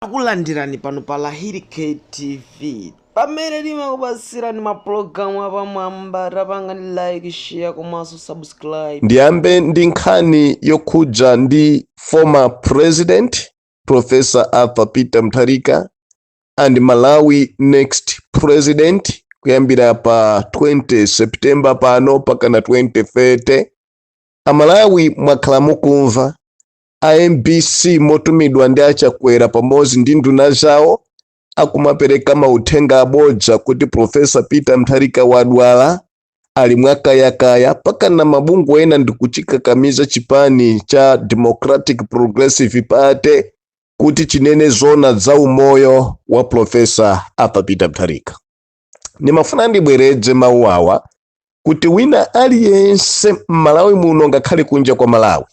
Takulandirani pano pa Lahiri K TV pamene timakupatsirani mapulogalamu apamwamba tapangani like share komanso subscribe ndiyambe ndi nkhani yokhudza ndi former president professor arthur peter mutharika and malawi next president kuyambira pa 20 september pano mpakana 2030 amalawi mwakhala mukumva a mbc motumidwa ndi a chakwera pamodzi ndi nduna zawo akumapereka mauthenga abodza kuti profesa peter mtharika wadwala ali mwakayakaya mpakana mabungwe ena ndikuchikakamiza chipani cha democratic progressive party kuti chinene zona za umoyo wa profesa arthur peter mtharika ndimafuna ndibwereze mawu awa kuti wina aliyense m'malawi muno ngakhale kunja kwa malawi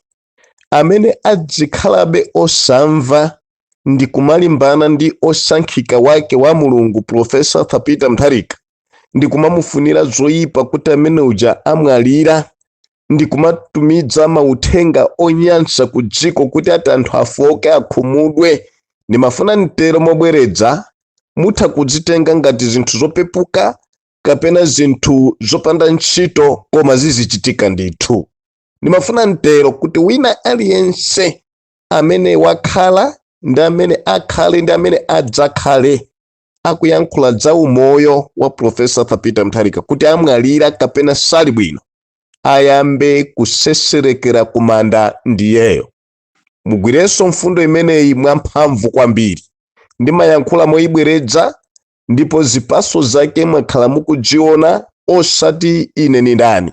amene adzikhalabe osamva ndi kumalimbana ndi osankhika wake wa mulungu profesa arthur peter mutharika ndi kumamufunira zoyipa kuti amene uja amwalira ndi kumatumidza mauthenga onyansa ku dziko kuti ati anthu afoke akhumudwe ndimafuna nditero mobweredza mutha kudzitenga ngati zinthu zopepuka kapena zinthu zopanda ntchito koma zizichitika ndithu ndimafuna nditero kuti wina aliyense amene wakhala ndi amene akhale ndi amene adzakhale akuyankhula za umoyo wa profesa arthur peter mutharika kuti amwalira kapena sali bwino ayambe kuseserekera kumanda ndiyeyo mugwirenso mfundo imeneyi mwamphamvu kwambiri ndimayankhula moyibweredza ndipo zipaso zake mwakhala mukudziona osati ine ni ndani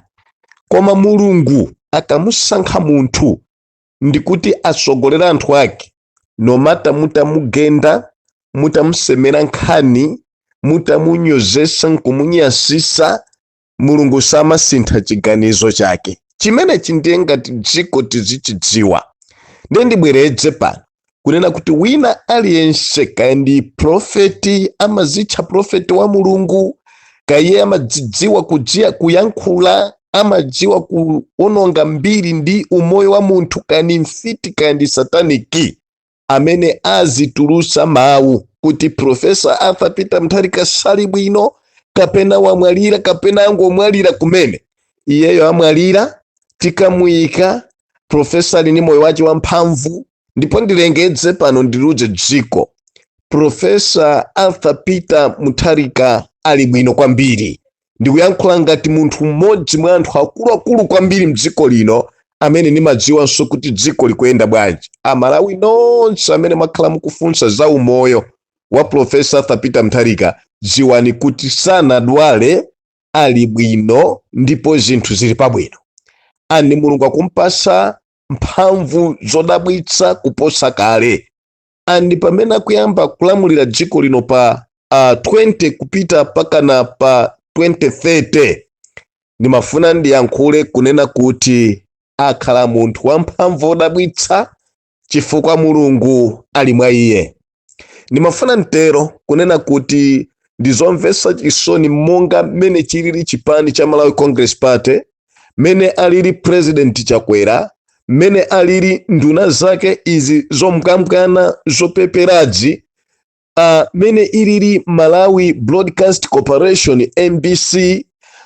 koma mulungu akamusankha munthu ndikuti asogolera anthu ake no matter mutamugenda mutamusemera nkhani mutamunyozesa nkumunyasisa mulungu samasintha chiganizo chake chimenechi ndiye ngati dziko tizichidziwa ndiye ndibweredze pano kunena kuti wina aliyense kaya ndi profeti amazitcha profeti wa mulungu kaya iye amadzidziwa kudziwa kuyankhula amadziwa kuononga mbiri ndi umoyo wa munthu kaya ndi mfiti kaya ndi sataniki amene azitulusa mawu kuti profesa arthur peter mutharika sali bwino kapena wamwalira kapena angomwalira kumene iyeyo amwalira tikamuyika profesa ali ndi moyo wace wamphamvu ndipo ndilengedze pano ndiliuze dziko profesa arthur peter mutharika ali bwino kwambiri ndikuyankhula ngati munthu mmodzi mwa anthu akuluakulu kwambiri mdziko lino amene ndimadziwanso kuti dziko likuyenda bwanji amalawi nonse amene mwakhala mukufunsa za umoyo wa profesa arthur peter mutharika dziwani kuti sanadwale ali bwino ndipo zinthu zili pabwino and mulungu akumpasa mphamvu zodabwitsa kuposa kale and pamene akuyamba kulamulira dziko lino pa uh, 20 kupita pakana pa 2030 ndimafuna ndiyankhule kunena kuti akhala munthu wamphamvu odabwitsa chifukwa mulungu ali mwa iye ndimafuna ntero kunena kuti ndizomvetsa chisoni monga mmene chilili chipani cha malawi congress party mmene alili president chakwera mmene alili nduna zake izi zomkambwana zopeperazi uh, mene ilili malawi broadcast corporation mbc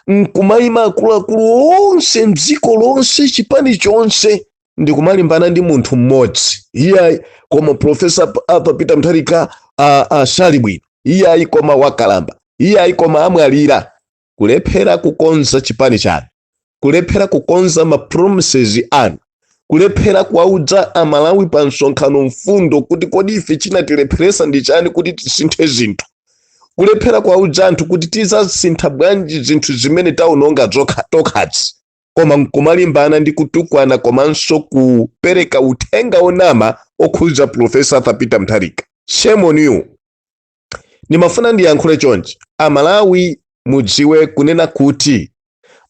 nkumayima akuluakulu onse mdziko lonse chipani chonse ndikumalimbana ndi munthu mmodzi iyayi koma profesa arthur peter mutharika uh, uh, sali bwino iyayi koma wakalamba iyayi koma amwalira kulephera kukonza chipani chanu kulephera kukonza ma promises anu kulephera kuwaudza amalawi pa msonkhano mfundo kuti kodi ife chinatilepheresa ndi chani kuti tisinthe zinthu kulephera kuwaudza anthu kuti tizasintha bwanji zinthu zimene taononga tokhazi koma nkumalimbana ndi kutukwana komanso kupereka uthenga onama okhudza profesa arthur peter mutharika shame on you ndimafuna ndiyankhule chonchi amalawi mudziwe kunena kuti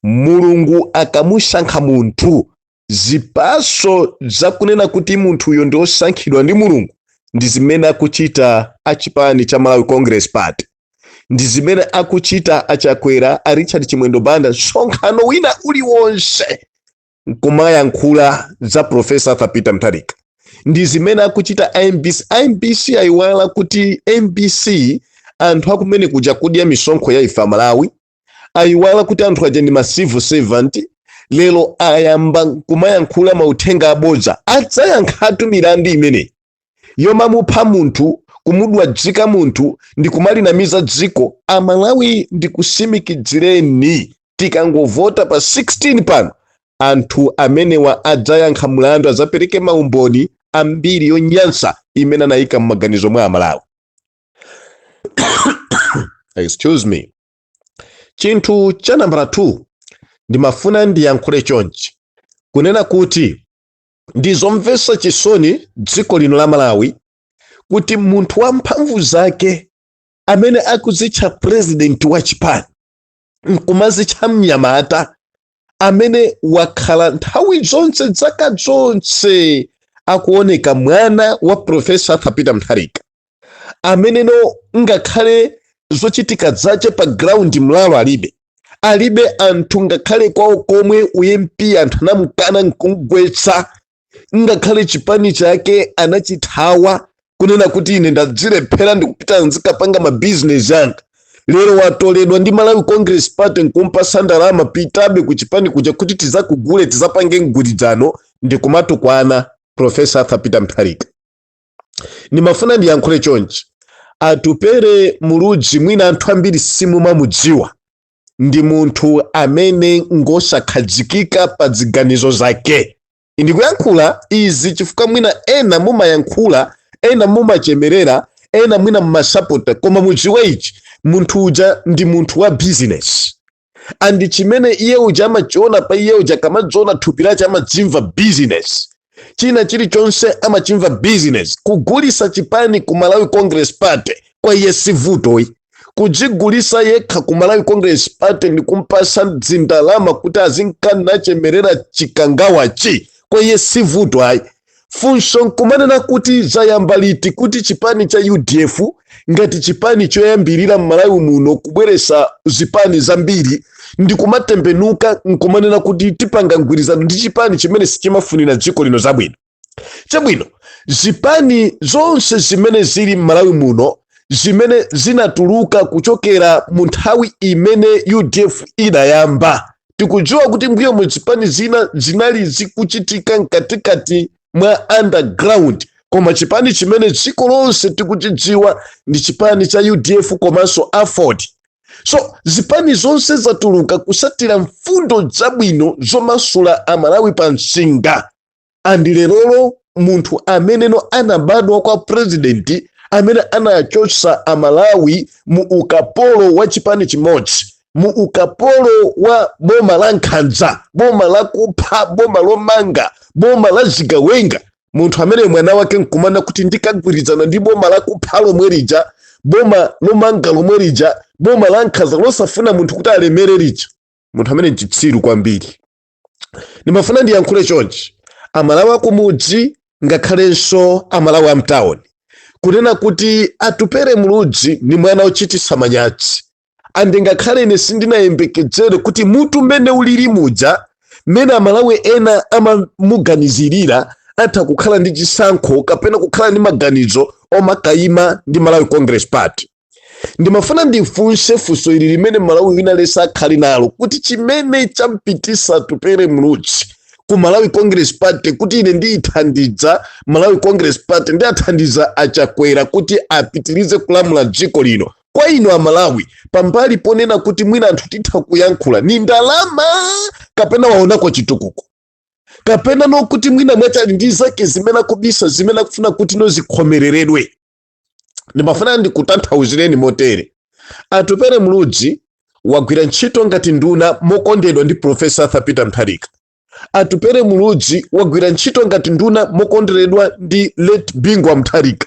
mulungu akamusankha munthu zipaso zakunena kuti munthuyo ndi osankhidwa ndi mulungu ndi zimene akuchita achipani cha malawi congress party ndi zimene akuchita achakwera a richard chimwendo banda msonkhano wina uliwonse nkumayankhula za profesa arthur peter mutharika ndi zimene akuchita a mbc mbc ayiwala kuti mbc anthu akumene kuja akudya misonkho ya ife amalawi ayiwala kuti anthu aja ndi ma civil servant lero ayamba kumayankhula mauthenga abodza adzayankhatu milandu imeneyi yomamupha munthu kumudwadzika munthu ndi kumalinamiza dziko amalawi ndikusimikidzireni tikangovota pa 16 pano anthu amenewa adzayankha mlandu adzapereke maumboni ambiri yonyansa imene anayika m'maganizo mwa amalawi excuse me chinthu cha nambala 2 ndimafuna ndiyankhule chonchi kunena kuti ndi zomvetsa chisoni dziko lino la malawi kuti munthu wa mphamvu zake amene akuzitcha purezidenti wa chipani nkumazitcha mnyamata amene wakhala nthawi zonse dzaka zonse akuoneka mwana wa profesa arthur peter mutharika ameneno ngakhale zochitika zache pa ground mlalo alibe alibe anthu ngakhale kwawo komwe u MP anthu anamukana nkumgwetsa ngakhale chipani chake anachithawa kunena kuti ine ndazilephera ndikupita ndizikapanga mabizinesi anga lero watoledwa ndi malawi congress party nkumpasa ndalama pitabe ku chipani kuja kuti tizakugule tizapange mgwirizano ndikumatukwana profesa arthur peter mutharika ndimafuna ndiyankhule chonchi atupele muluzi mwina anthu ambiri simumamudziwa ndi munthu amene ngosakhazikika pa ziganizo zake ndikuyankhula izi chifukwa mwina ena mumayankhula ena mumachemerera ena mwina mumasapota koma mudziwe ichi munthu uja ndi munthu wa bizinesi and chimene iye uja amachiona pa iye uja akamadziona thupi lache amadzimva business china chilichonse amachimva business kugulisa chipani ku malawi congress party kwa iye si vuto ayi kudzigulisa yekha ku malawi congress party ndi kumpasa zindalama kuti azinka nachemerera chikangawachi kwa iye si vuto ayi funso nkumanena kuti zayamba liti kuti chipani cha udf ngati chipani choyambirira m'malawi muno kubweresa zipani zambiri ndi kumatembenuka nkumanena kuti tipanga mgwirizano ndi chipani chimene sichimafunira dziko lino zabwino chabwino zipani zonse zimene zili m'malawi muno zimene zinatuluka kuchokera mu nthawi imene udf idayamba tikudziwa kuti mbuyomu zipani zina zinali zikuchitika mkatikati mwa underground koma chipani chimene dziko lonse tikuchidziwa ndi chipani cha udf komanso aford so zipani zonse zatuluka kusatira mfundo zabwino zomasula amalawi pa msinga and lerolo munthu ameneno anabadwa kwa president amene anachotsa amalawi mu ukapolo wa chipani chimodzi mu ukapolo wa boma la nkhanza boma la kupha boma lomanga boma la zigawenga munthu amene mwana wake nkumanena kuti ndikagwirizana ndi boma la kupha lomwe lija boma lomanga lomwe lija boma la nkhanza losafuna munthu kuti alemere lija munthu amene nchitsiru kwambiri ndimafuna ndiyankhule chonchi amalawi akumudzi ngakhalenso amalawi amtawuni kunena kuti Atupele Muluzi ndi mwana ochititsa manyazi and ngakhale ine sindinayembekedzere kuti mutu mmene ulili muja mmene amalawi ena amamuganizirira atha kukhala ndi chisankho kapena kukhala ndi maganizo omakayima ndi malawi congress party ndimafuna ndifunse funso ili limene Mmalawi wina aliyense akhale nalo kuti chimene champititsa Atupele Muluzi ku malawi congress party kuti ine ndiyithandiza malawi congress party ndiyathandiza achakwera kuti apitirize kulamula dziko lino kwa inu amalawi pambali ponena kuti mwina anthu titha kuyankhula ni ndalama kapena waonako chitukuko kapena nokuti mwina mwa chani ndi zake zimene akubisa zimene akufuna kuti no zikhomereredwe ndimafuna ndikutanthauzireni motere Atupele Muluzi wagwira ntchito ngati nduna mokonderedwa ndi profesa arthur Peter Mutharika Atupele Muluzi wagwira ntchito ngati nduna mokonderedwa ndi late Bingu wa Mutharika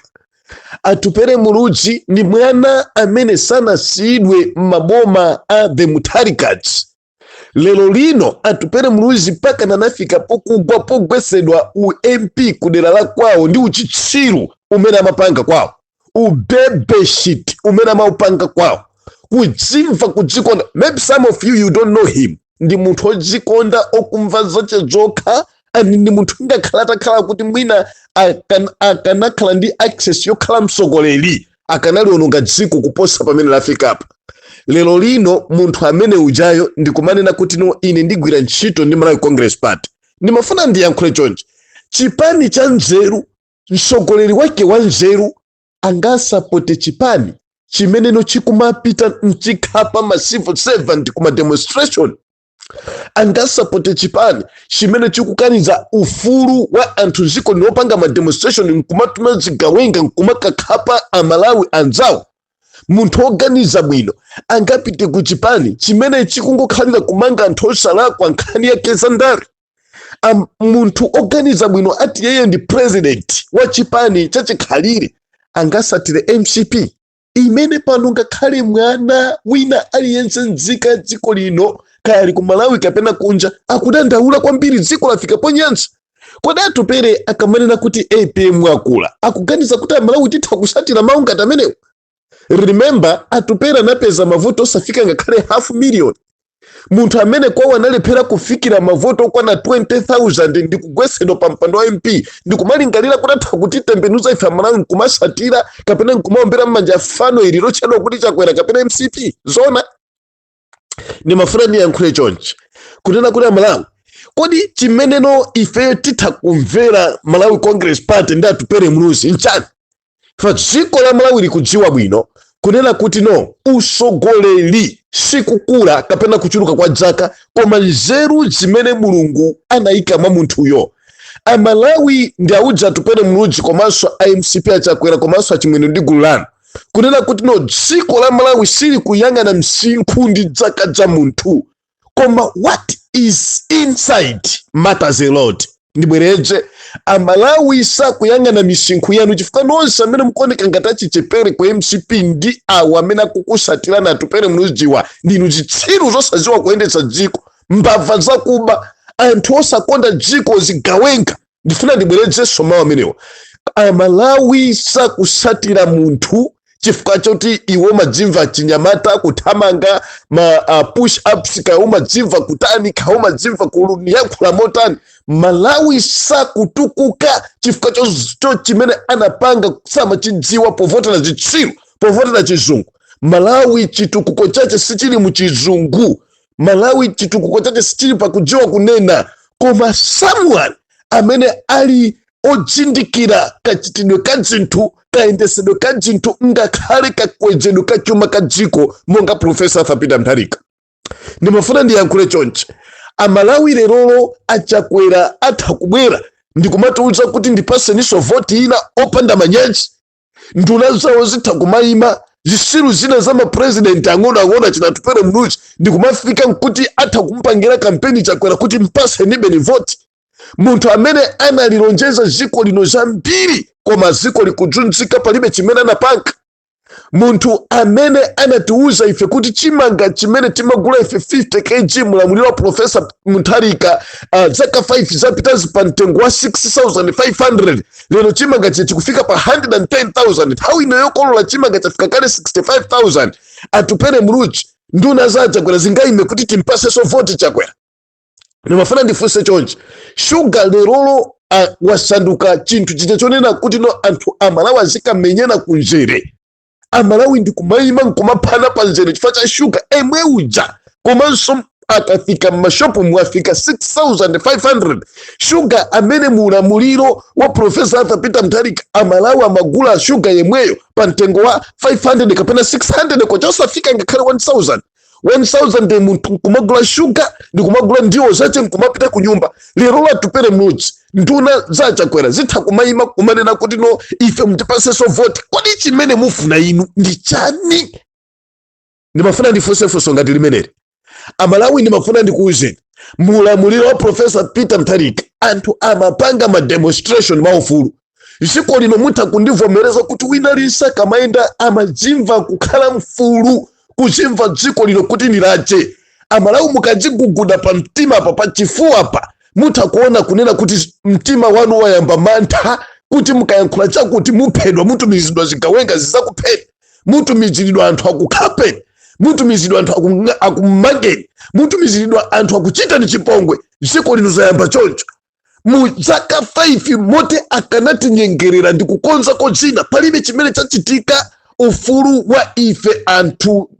Atupele Muluzi ndi mwana amene sanasiyidwe m'maboma a the Mutharikas lero lino Atupele muluzi mpaka anafika pokugwa pogwetsedwa u mp kudera la kwawo ndi uchitsiru umene amapanga kwawo ubebeshit umene amaupanga kwawo kudzimva kudzikonda maybe some of you you don't know him ndi munthu odzikonda okumva zache zokha and ndi munthu ngakhale atakhala kuti mwina akan- akanakhala ndi access yokhala mtsogoleri akanaliononga dziko kuposa pamene lafikapa lero lino munthu amene ujayo ndikumanena kuti no ine ndigwira ntchito ndi malawi congress party ndimafuna ndiyankhule chonchi chipani cha nzeru mtsogoleri wake wa nzeru angasapote chipani chimene chikumapita nkukhapa ma civil servant kuma demonstration angasapote chipani chimene chikukaniza ufulu wa anthu dziko lino opanga mademonstration nkumatuma zigawenga nkumakakhapa amalawi anzawo munthu oganiza bwino angapite ku chipani chimene chikungokhalira kumanga anthu osalakwa nkhani yake za ndale munthu oganiza bwino ati yeye ndi president wa chipani chachikhalire angatsatire mcp imene pano ngakhale mwana wina aliyense nzika ya dziko lino kaya ali ku malawi kapena kunja akudandaula kwambiri dziko lafika ponyansa kodi Atupele akamanena kuti apm akula akuganiza kuti amalawi titha kutsatira mawu ngati amenewo remember Atupele anapeza mavoti osafika ngakhale half million munthu amene kwawo analephera kufikira mavoto okwana 20000 ndikugwesedwa pa mpando wa mp ndi kumalingalira kuti atha kutitembenuza ife amalawi nkumatsatira kapena nkumaombera m'manja fano ili lotchedwa kuti chakwera kapena mcp zona ndimafuna ndiyankhule chonchi kunena kuti amalawi kodi chimeneno ife titha kumvera malawi congress party ndi atupere muluzi nchani pa dziko la malawi likudziwa bwino kunena kuti no usogoleri sikukula kapena kuchuluka kwa dzaka koma nzeru zimene mulungu anayika mwa munthuyo amalawi ndiwauze atupele muluzi komanso a mcp achakwera komanso achimwene ndi gulu lanu kunena kuti no dziko la malawi silikuyang'ana msinkhu ndi dzaka za munthu koma what is inside matters a lot ndibwereze amalawi sakuyang'ana misinkhu yanu chifukwa nonse amene mukuoneka ngati achichepere ku mcp ndi awo amene akukusatirani atupele muluzi inu ndinu zitsiru zosaziwa kuyendetsa dziko mbava zakuba anthu osakonda dziko zigawenga ndifuna ndibwerezenso mawu amenewa amalawi sakusatira munthu chifukwa choti iwo madzimva chinyamata kuthamanga ma uh, push ups kaya umadzimva kutani kaya umadzimva kuyankhula motani malawi sakutukuka chifukwa choti chimene anapanga samachidziwa povotera zitsiru povotera chizungu malawi chitukuko chache sichili muchizungu malawi chitukuko chache sichili pakudziwa kunena koma someone amene ali odzindikira kachitidwe ka dzinthu kayendesedwe ka dzinthu ngakhale kakwezedwe ka chuma ka dziko monga profesa arthur peter mutharika ndimafuna ndiyankhule chonchi amalawi lerolo achakwera atha kubwera ndikumatiuza kuti ndipaseninso voti ina opanda manyazi nduna zawo zitha kumayima zisiru zina za mapurezidenti ang'onoang'ono achina atupele muluzi ndi kumafika nkuti atha kumpangira kampeni chakwera kuti mpasenibeni voti munthu amene analilonjeza ziko lino zambiri koma ziko likuzunzika palibe chimene anapanga munthu amene anatiwuza ife kuti chimanga chimene timagula ife 50 kg mulamuliro wa profesa mutharika uh, zaka 5 zapitazi pa mtengo wa 6500 lero chimanga chikufika pa 110,000 nthawi ino yokolola chimanga chafika kale 65,000 atupele muluzi nduna za chakwera zingayime kuti timpasenso voti chakwera ndimafuna ndifunse chonchi shuga lerolo ah, wasanduka chinthu chija chonena kuti no anthu amalawi azikamenyana kunzere amalawi ndikumayima nkumaphana pa nzere chifukwa cha shuga emwe uja komanso akafika m'mashopu mwafika 6500 shuga amene mu ulamuliro wa profesa arthur peter mutharika amalawi amagula shuga yemweyo pa mtengo wa 500 kapena 600 kwacha osafika ngakhale 1000 1000 munthu nkumagula shuga ndikumagula ndiwo zace nkumapita ku nyumba lero Atupele Muluzi nduna za chakwera zitha kumayima kumanena kuti no ife mutipaseso voti kodi chimene mufuna inu ndi chani ndimafuna ndifunse funso ngati limeneli amalawi ndimafuna ndikuwuzeni mulamuliro wa profesa peter mutharika anthu amapanga mademonstration maufulu dziko lino mutha kundivomereza kuti wina aliyense akamayenda amadzimva kukhala mfulu kudzimva dziko lino kuti ndi lace amalawi mukadziguguda pa mtima pa pachifuwa pa mutha kuona kunena kuti mtima wanu wayamba mantha kuti mukayankhula chakuti muphedwa mutumizidwa zigawenga zizakupheni mutumizidwa anthu akukhapeni mutumizidwa anthu akumangeni mutumizidwa anthu akuchitani chipongwe dziko lino zayamba choncho mu zaka 5 moti akanatinyengerera ndi kukonzako zina palibe chimene chachitika ufulu wa ife anthu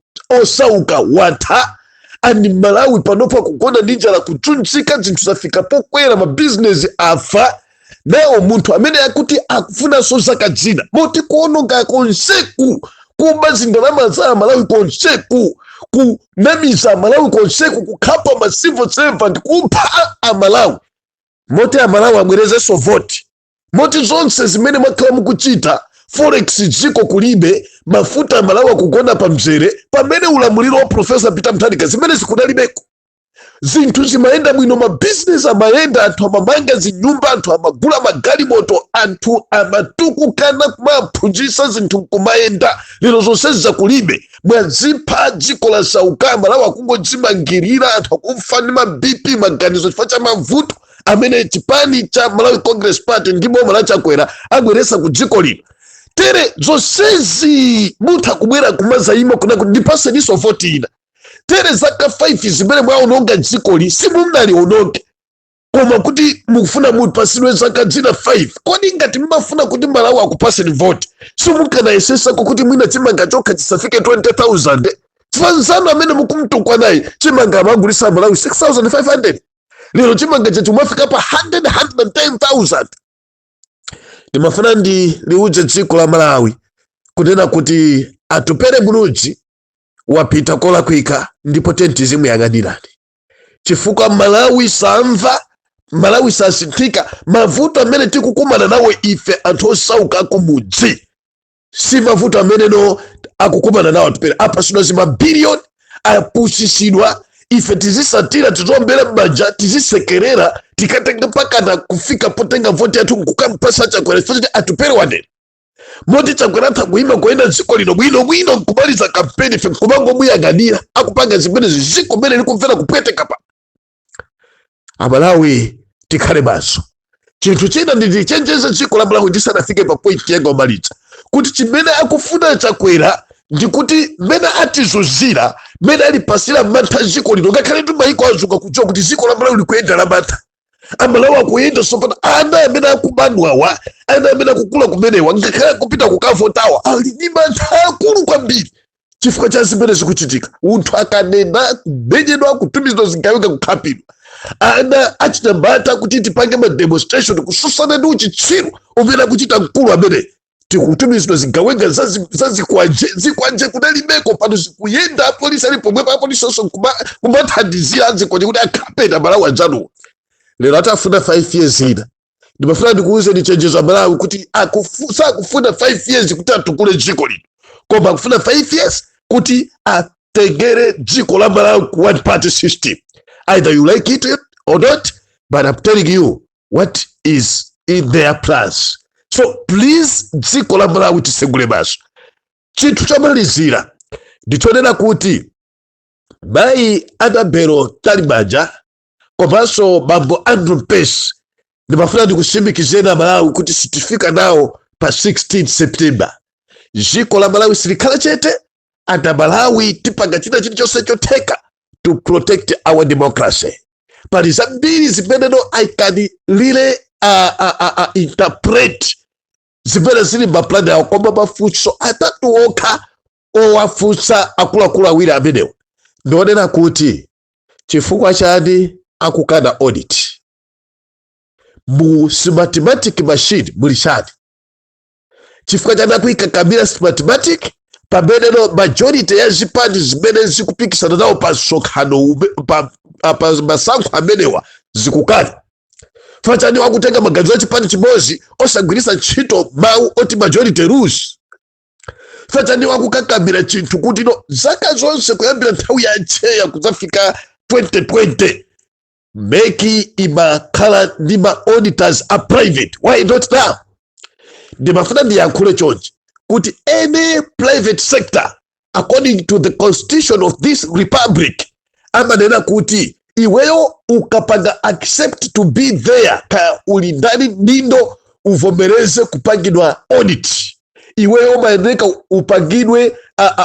osauka watha amalawi panopa kugona ndi njala kuzunzika zinthu zafika pokwera mabizinesi afa ndiye munthu amene akuti akufunanso zaka zina moti kuononga konseku kuba zindalama za amalawi konseku ku namiza amalawi konseku kukhapa ma civil servant kupha amalawi moti amalawi abwerezenso voti moti zonse zimene mwakhala mukuchita forex dziko kulibe mafuta amalawi akugona pa mzere pamene ulamuliro wa profesa peter mutharika zimenezi kunalibeko zinthu zimayenda bwino mabizinesi amayenda anthu amamanga zinyumba anthu amagula magalimoto anthu amatukuka ana kumaphunzitsa zinthu nkumayenda lero zonsezi kulibe mwazipha dziko lasauka amalawi akungodzimangirira anthu akufa ndi ma bp maganizo chifukwa cha mavuto amene chipani cha malawi congress party ndi boma la chakwera abweresa ku dziko lino tere zonsezi mutha kubwera kumazayima kunena kuti ndipaseniso voti ina tere zaka 5 zimene mwaononga dzikoli simunaliononge koma kuti mukufuna mupatsidwe zaka zina 5 kodi ngati mmafuna kuti malawi akupaseni voti simukanayesetsako kuti mwina chimanga chokha chisafike 20000 anzanu amene mukumtukwa naye chimanga amagulisa malawi 6500 lero chimanga chathu mwafika pa 100 110000 ndimafuna ndiliuze dziko la malawi kunena kuti Atupele Muluzi wapita kolakwika ndipo tenti zimuyang'anirani chifukwa malawi samva malawi sasinthika mavuto amene tikukumana nawo ife anthu osauka akumudzi si mavuto amene akukumana nawo Atupele apasidwa zimabiliyoni apusisidwa ife tizisatira tiziombera m'manja tizisekerera tikatenga mpakana kufika potenga voti yathu nkukampasa chakwera chifukwa choti Atupele wanena moti chakwera atha kuyima kuyenda dziko lino bwino bwino nkumaliza kampeni ife nkumangomuyang'anira akupanga zimenezi dziko mmene likumvera kupweteka pa amalawi tikhale maso chinthu china ndichenjeze dziko la malawi ndisanafike pa point yanga yomaliza kuti chimene akufuna chakwera ndikuti mmene atizunzira mmene alipatsira mantha dziko lino ngakhale ndi maiko adziwa kudziwa kuti dziko la malawi likuyenda la mantha amalawi akuyenda sopano ana amene akubadwawa ana amene akukula kumenewa ngakhale kupita kukavotawa ali ndi mantha akulu kwambiri chifukwa cha zimene zikuchitika munthu akanena kumenyedwa kutumizidwa zigawenga kukhapidwa ana achinyamata kuti tipange mademonstration kutsutsana ndi uchitsiru umene akuchita mkulu amene tikutumizidwa zigawenga zazi- zazikwanje zikwanje kunalibeko pano zikuyenda apolisi ali pomwepo apolisinso kuma- kumathandizira azikwanje kuti akhape amalawi anzawo lero akufuna 5 years ina ndimafuna ndikuuzeni ndichenjeze amalawi kuti akufu- sakufuna 5 years kuti atukule dziko lino koma akufuna 5 years kuti atengere dziko la malawi ku one party system either you like it or not but I'm telling you what is in their plans so please dziko la malawi tisegule maso chinthu chomalizira ndichonena kuti mayi annabel mtalimanja komanso bambo andrew mpesi ndimafuna ndikutsimikizireni amalawi kuti sitifika nawo pa 16 september dziko la malawi silikhala chete and amalawi tipanga china chilichonse chotheka to protect our democracy pali zambiri zimene no i can really uh, uh, uh, uh, interpret zimene zili mmapulani awo koma mafunso atatu okha owafunsa akuluakulu awiri amenewo ndi onena kuti chifukwa chani akukana audit mu smartmatic machine muli chani chifukwa chani akuikakamira smartmatic pameneno majority ya zipani zimene zikupikisana nawo pa msonkhano ume- pa a- pa masankho amenewa zikukana chifukwa chani akutenga maganizo a chipani chimodzi osagwiritsa ntchito mawu oti majority rules chifukwa chani akukakamira chinthu kuti no zaka zonse kuyambira nthawi ya cheya kudzafika 2020 mec imakhala ndi ma auditors a private why not now ndimafuna ndiyankhule chonchi kuti any private sector according to the constitution of this republic amanena kuti iweyo ukapanga accept to be there kaya uli ndani ndindo uvomereze kupangidwa audit iweyo umayeneka upangidwe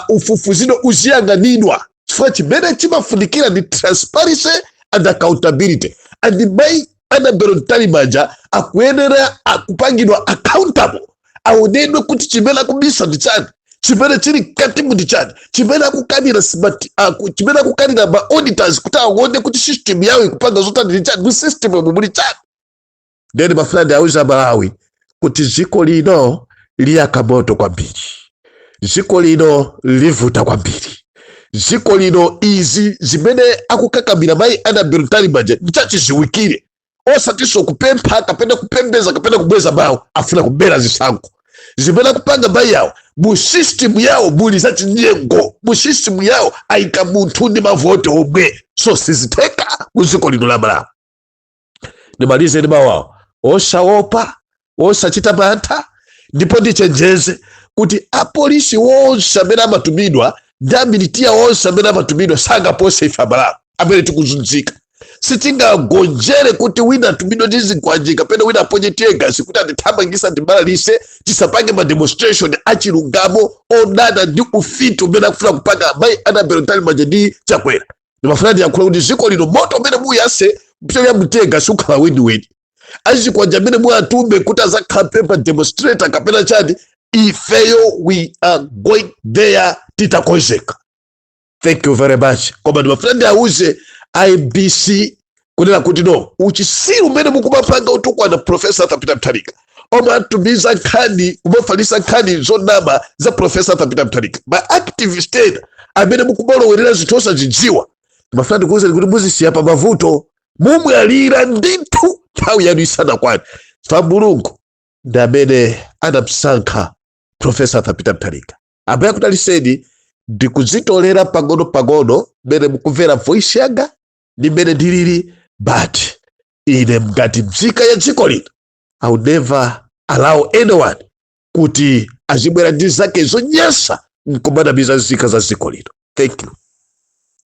ufufuzidwe uziyanganidwa chifukwa chimene chimafunikira ndi transparency and accountability and mai Annabel Mtalimanja akuyenera kupangidwa accountable aonedwe kuti chimene akubisa ndi chani chimene chili mkati ndi chani chimene akukanira chimene akukanira ma auditors kuti aone kuti system yawo ikupanga zotani ndi chani mu system yomwe muli chani ndeni mafuna ndiwauze amalawi kuti dziko lino liyaka moto kwambiri dziko lino livuta kwambiri dziko lino izi zimene akukakamira mayi Annabel Mtalimanja ndichachiziwikire osatinso kupempha kapena kupembeza kapena kubweza mawu afuna kubera zisankho zimene akupanga mayi awo mu system yawo muli zachinyengo mu system yawo ayika munthu ndi mavote omwe so sizitheka mu dziko lino la malawi ndimalize ndi mawu awa osaopa osachita mantha ndipo ndichenjeze kuti apolisi wonse amene amatumidwa ndi amilitiya wonse amene amatumidwa sangapose ife amalawi amene tikuzunzika sitingagonjere kuti wina atumidwa ndi zikwanje kapena wina aponye tiyegasi kuti atithamangise atibalalise tisapange mademonstration achilungamo odana ndi ufiti umene akufuna kupanga mayi Annabel Mtalimanja ndi chakwera ndimafuna ndiyankhule kuti dziko lino moto umene muyase mpichoti ya mtiyegasi ukhala weniweni achikwanje amene muwatume kuti azakhape ma demonstrator kapena chani ifeyo we are going there titakonzeka thank you very much koma ndimafuna ndiauze MBC kunena kuti no uchisiru umene mukumapanga otukwana profesa arthur peter mthalika omatumiza nkhani kumafalisa nkhani zonama za profesa arthur peter mthalika ma activist ena amene mukumalowerera zinthu osazidziwa mafuna ndikuwuzeni kuti muziyika pa mavuto mumwalira ndithu nthawi yanu isanakwane fa mulungu ndi amene anamsankha profesa arthur peter mthalika ambuye akudaliseni ndikuzitolera pang'ono pang'ono mmene mukumvera voice yanga ndi mmene ndilili but ine ngati mzika ya dziko lino i will never allow anyone kuti azibwera ndi zake zonyasa nkumanamiza nzika za dziko lino thank you